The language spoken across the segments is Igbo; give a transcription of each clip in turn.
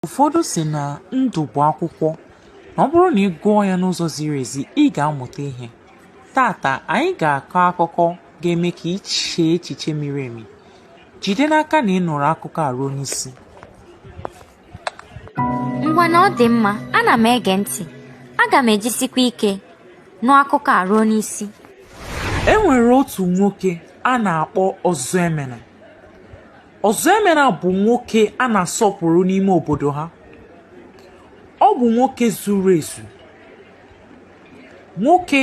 Ụfọdụ si na ndụ bụ akwụkwọ na ọ bụrụ na ị gụọ ya n'ụzọ ziri ezi ị ga-amụta ihe taata anyị ga-akọ akụkọ ga-eme ka ị chee echiche miri emi jide n'aka na ị nụrụ akụkọ a ruo n'isi ngwa na ọ dị mma ana m ege ntị aga m ejisikwa ike nụ akụkọ a ruo n'isi e nwere otu nwoke a na-akpọ Ọzọemena Ọzọemena bụ nwoke a na-asọpụrụ n'ime obodo ha ọ bụ nwoke zuru ezu nwoke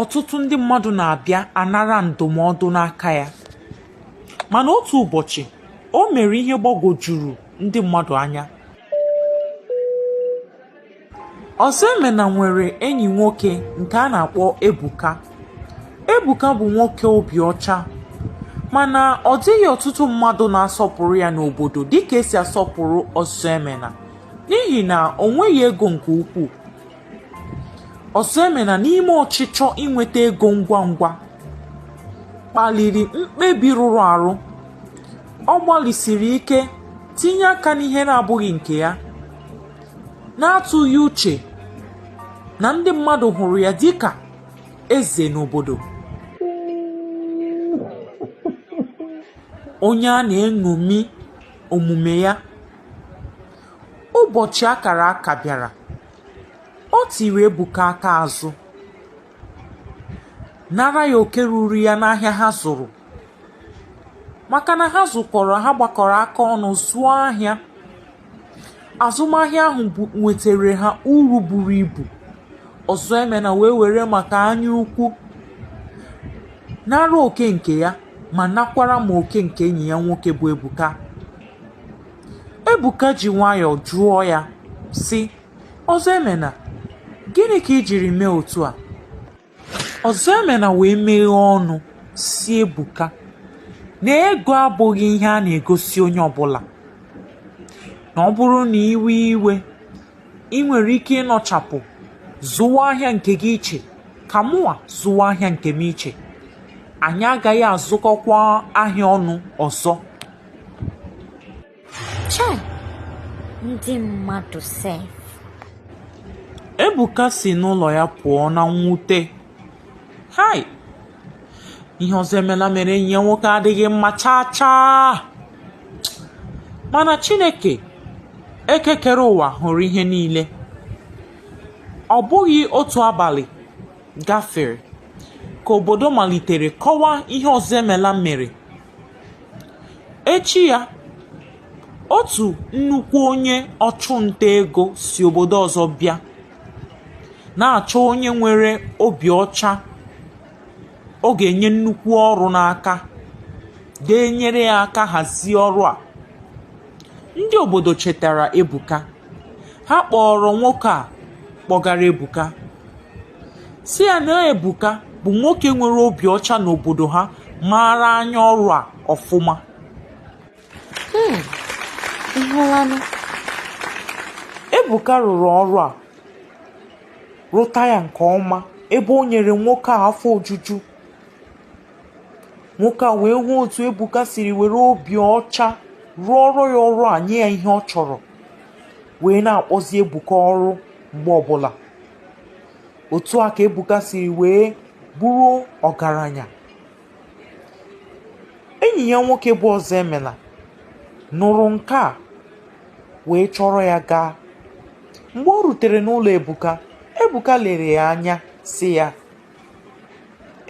ọtụtụ ndị mmadụ na-abịa anara ndụmọdụ n'aka ya mana otu ụbọchị o mere ihe gbagwojuru ndị mmadụ anya Ọzọemena nwere enyi nwoke nke a na-akpọ Ebuka. Ebuka bụ nwoke obi ọcha mana ọ dịghị ọtụtụ mmadụ na-asọpụrụ ya n'obodo dịka e si asọpụrụ Ọzọemena n'ihi na o nweghị ego nke ukwuu. Ọzọemena n'ime ọchịchọ inweta ego ngwa ngwa kpaliri mkpebi rụrụ arụ. Ọ gbalịsiri ike tinye aka n'ihe na-abụghị nke ya. n'atụghị uche na ndị mmadụ hụrụ ya dịka eze n'obodo onye a na-eṅomi omume ya ụbọchị akara aka bịara o tiri Ebuka aka azụ nara ya oke ruuru ya n'ahịa ha zụrụ maka na ha zụkọrọ ha gbakọrọ aka ọnụ zụọ ahịa azụmahịa ahụ nwetara ha uru buru ibu Ọzọemena wee were maka anya ukwu nara oke nke ya ma nakwara ma oke nke enyi ya nwoke bụ Ebuka Ebuka ji nwayọọ jụọ ya sị Ọzọemena gịnị ka i jiri mee otu a Ọzọemena wee meghee ọnụ sị Ebuka na ego abụghị ihe a na-egosi onye ọbụla na ọ bụrụ na i wee iwe i nwere ike ịnọchapụ zụwa ahịa nke gị iche ka mụwa zụwa ahịa nke m iche anyị agaghị azụkọkwa ahịa ọnụ ọzọ Chai! Ndị mmadụ sef. Ebuka si n'ụlọ ya pụọ na mwute. Hai! Ihe Ọzọemena mere enyi ya nwoke adịghị mma chaa chaa. Mana Chineke nke kere ụwa hụrụ ihe niile. Ọ bụghị otu abalị gafere ka obodo malitere kọwa ihe Ọzọemena mere. Echi ya, otu nnukwu onye ọchụnta ego si obodo ọzọ bịa, na-achọ onye nwere obi ọcha ọ ga-enye nnukwu ọrụ n'aka, ga-enyere ya aka hazie ọrụ a. Ndị obodo chetara Ebuka. Ha kpọọrọ nwoke a kpọgara Ebuka sị ya na Ebuka bụ nwoke nwere obi ọcha n'obodo ha maara anya ọrụ a ọfụma. Ịhụlanụ, Ebuka rụrụ ọrụ a rụta ya nke ọma ebe o nyere nwoke a afọ ojuju nwoke a wee hụ otu ebuka siri were obi ọcha rụọrọ ya ọrụ a nye ya ihe ọ chọrọ wee na-akpọzi ebuka ọrụ mgbe ọbụla otu a ka ebuka siri wee bụrụ ọgaranya enyi ya nwoke bụ ọzọemela nụrụ nke a wee chọrọ ya gaa mgbe o rutere n'ụlọ ebuka ebuka lere ya anya sị ya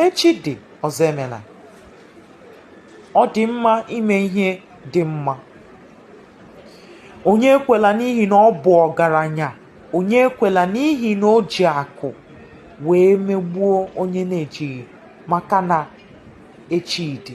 Echi dị, Ọzọemela. Ọ dị mma ime ihe dị mma. Onye ekwela n'ihi na ọ bụ ọgaranya, onye ekwela n'ihi na o ji akụ wee megbuo onye na-ejighị maka na echi dị.